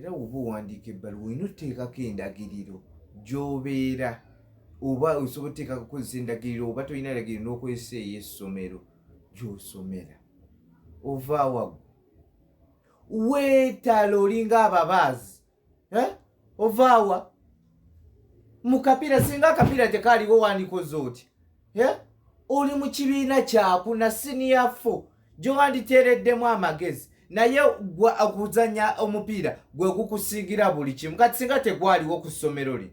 era woba owandiika ebbaluwa olina oteekako endagiriro gyobeera oba osobola oteekako okozesa endagiriro oba tolina ndagiriro n'okozesa ey'essomero gyosomera ova wagu weetala olinga ababaazi eh? ovaawa mu kapiira singa akapiira tekaaliwo wandikoze otya oli mu kibiina kyaku na siniya fo gyewanditeereddemu amagezi naye gwe okuzanya omupiira gwe gukusingira buli kimu kati singa tegwaliwo ku ssomero lino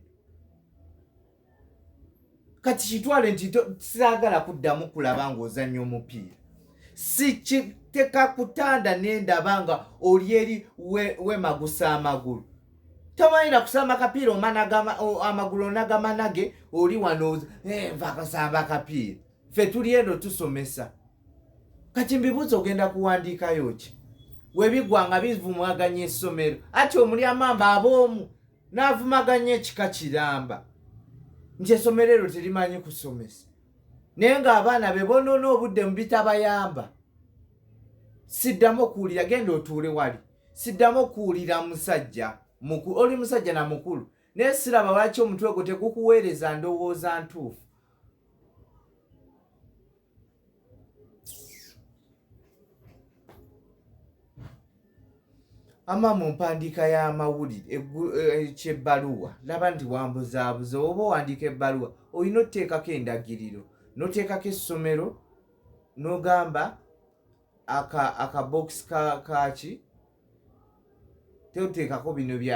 kati kitwale nti saagala kuddamu kulaba ng'ozanya omupiira sikiteka kutanda nendaba nga oli eri wemagusa amagulu tomanira kusamba kapiira omana amagulu onagamanage oli wano eh, nva kusamba kapiira fe tuli eno tusomesa kati mbibuuza ogenda kuwandiikayo ki webigwa nga bivumaganya essomero ati omuli amamba aboomu n'avumaganya ekika kiramba nti essomero eryo terimanyi kusomesa naye ng'abaana be bonoona obudde mu bitabayamba siddamu okuwulira genda otuule wali Siddamu okuwulira musajja mukulu. Oli musajja na mukulu naye siraba lwaki omutwe gwo tegukuweereza ndowooza ntuufu. ama mu mpandiika y'amawulire eh, kyebbaluwa laba nti wambuzaabuza oba owandiika ebbaluwa olina oteekako endagiriro noteekako essomero nogamba aka aka box ka kaki toteekako bino bya